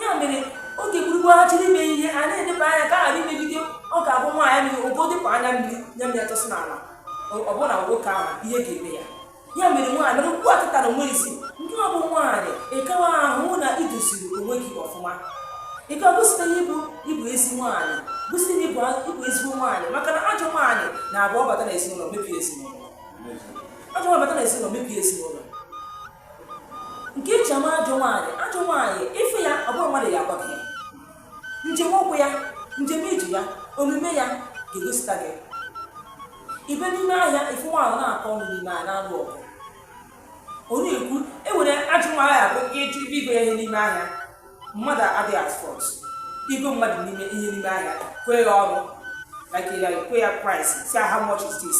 ya mere oge gburugburu ha chọrọ ime ihe a na-eleba anya ka ghara imegide ọ ga-abụ nwaanyị mere ogo dịpụ anya mmiri anya mmiri atọsị n'ala ọ bụrụ na nwoke ahụ ihe ga-eme ya ya mere nwaanyị mere okwu atụtara onwe isi nke ọ bụ nwaanyị ịkawa ahụ na idoziri onwe gị ọfụma ịka gosite na ịbụ ịbụ ezi nwaanyị gosite na ịbụ ịbụ ezigbo nwaanyị maka na ajọ nwaanyị na-abụ ọ bata na ezinụlọ mebie ezinụlọ ajọ nwaanyị bata na ezinụlọ mebie ezinụlọ nke eji ama ajọ nwaanyị ajọ nwaanyị ị fụ ya ọ bụrụ mmadụ ya agwa gị ya njem ụkwụ ya njem ije ya omume ya ga-egosita gị ị bịa n'ime ahịa ị fụ nwaanyị na-akọ ọnụ n'ime ahịa na-alụ ọgụ onye ekwu e nwere ajọ nwaanyị abụ ịjụ ibe igo ya ihe n'ime ahịa mmadụ adịghị afford igo mmadụ n'ime ihe n'ime ahịa kwee ya ọnụ like ya kwe ya price sị how much is this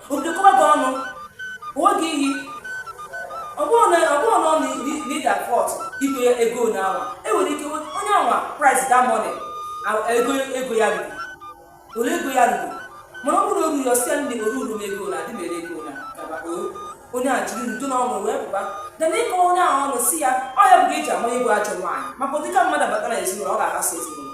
O bido kọba gị ọnụ, uwe gị iyi, ọ bụrụ na ọ bụrụ na ọ naghị afford ego ya ego na awa enwere ike onye awa price the money ego ego ya ruru ole ego ya ruru mana ọ bụrụ oruru ọ sị ya ndị oruru m ego na adị mere ego na gaba onye a jiri udo na ọṅụ wee pụba than ịkọ onye ahụ ọnụ si ya ọ ya bụ ka eji ama onye bụ ajọ nwaanyị maka ụdịka mmadụ batara ezinụlọ ọ ga-aghasị ezinụlọ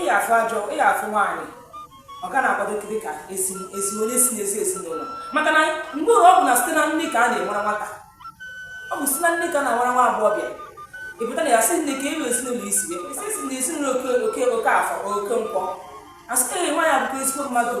ị ya-afụ ajọ ị ya-afụ nwaanyị ọ ga na-akwado dị ka esi esi onye si n'ezi ezinụlọ maka na mgbe ọ bụ na site na nne ka a na-enwere nwata ọ bụ site na nne ka a na-enwere nwa agbọghọbịa ị pụta na ya sị nne ka e wee ezinụlọ isi wee kwesị esi na ezinụlọ oke oke oke afọ oke nkwọ asịrị nwaanyị abụkwa ezigbo mmadụ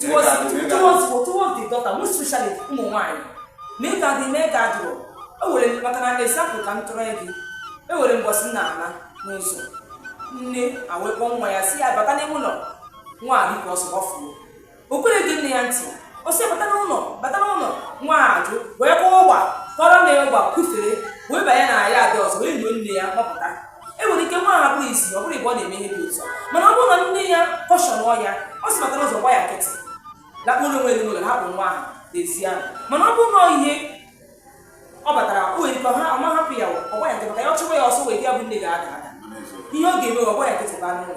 towards the daughter most especially ụmụ nwaanyị ma ị ga-adị ma ị ga-adụrụ ewere maka na example ka m tụrụ gị e nwere mbọsị m na-ana n'ụzọ nne ewee kpọọ nwa ya sị ya bata n'ime ụlọ nwa a dịka ọsọ ọfụrụ o kwerọ ge nne ya ntị ọ sị bata n'ụlọ bata n'ụlọ nwa ajụ wee kwụọ ọgba kọrọ na ya ọgba kwufere wee banye na yard ọzọ wee nyuo nne ya kpọpụta e nwere ike nwa ahụ bụrọ isi ọ bụrọ ịbọ ọ na-eme ihe dị otu mana ọ bụrụ na nne ya caution ya ọ sị bata n'ụlọ gba ya nkịtị lakpuru onwe ya n'ụlọ hapụ nwa ahụ n'ezi ahụ mana ọ bụrụ na ihe ọ batara o nwere ike ọ ma hapụ ya ọ gba ya nkịtị maka ya ọ chụwa ya ọsọ nwere ike ya bụ nne ga-ada ada ihe ọ ga-eme ọ gba ya nkịtị baa n'ụlọ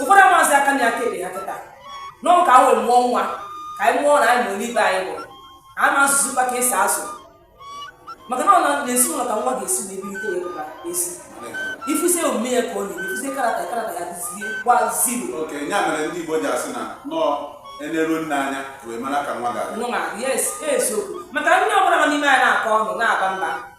ụfọdụ amazị aka na aka ebe ha kịta nọọ ka e wee mụọ nwa ka anyị mụọ na anyị mụrụ ibe anyị mụrụ ama azụzi ka esi azụ maka na ọ na ezinụlọ ka nwa ga-esi na ebe ite ya ezi ị fụzie omume ya ka ọ na-eme ị fụzie character character ya dịziekwa zero okay ya mere ndị Igbo ji asị na nọọ eneru nne anya wee mara ka nwa ga-adị yes eziokwu maka nne ọbụla nọ n'ime ahịa na-akọ ọnụ na-aba mba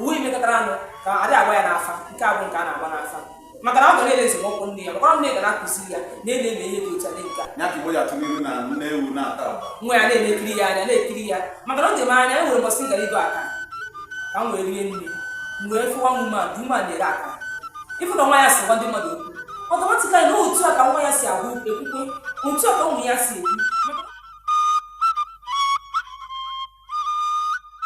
uwe metụtara anụ ka a dị agba ya n'afa nke abụ nke a na-agba n'afa maka na ọ ga na-ele esemokwu nne ya makwara nne ga na-akụziri ya na ele eme ihe dị otu a dị ka Igbo ji atụ n'ilu na nne ewu na-ata agba nwa ya na-ekiri ya anya na-ekiri ya maka na o ji m anya e nwere mbọsị m gara ịgo aka ka m wee rie nri m wee fụwa mmadụ na-ere aka ịfụ na nwa ya si gwa ndị mmadụ okwu ọtọmatikali na otu a ka nwa ya si agwa ekwukwe otu a ka ụmụ ya si ekwu